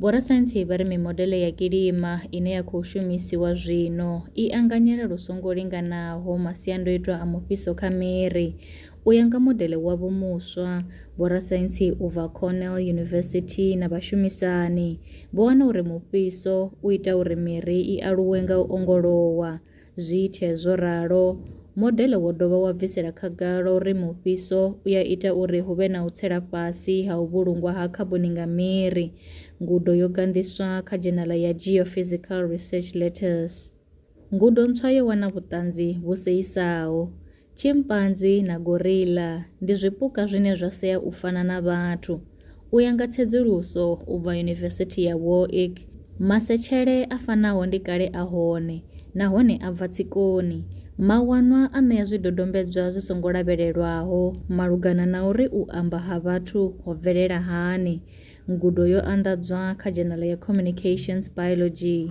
Vhorasaintsi vha ri mimodeḽe ya kilima ine ya khou shumisiwa zwino i anganyela lu songo linganaho masiandoitwa a mufhiso kha miri. U ya nga modeḽe wavho muswa, vhorasaintsi u bva Cornell University na vhashumisani vho wana uri mufhiso u ita uri miri i aluwe nga u ongolowa. Zwithe zwo ralo, modeḽe wo dovha wa bvisela khagala uri mufhiso u a ita uri hu vhe na u tsela fhasi ha u vhulungwa ha khaboni nga miri. Ngudo yo ganḓiswa kha dzhenala ya Geophysical Research Letters. Ngudo ntswa yo wana vhuṱanzi vhu seisaho. Tshimpanzi na gorilla ndi zwipuka zwine zwa sea u fana na vhathu. U ya nga tsedzuluso u bva Yunivesithi ya Warwick, masetshele a fanaho ndi kale a hone nahone a bva tsikoni. Mawanwa a ṋea zwidodombedzwa zwi songo lavhelelwaho malugana na uri u amba ha vhathu ho bvelela hani. Ngudo yo anḓadzwa kha dzhenala ya Communications Biology.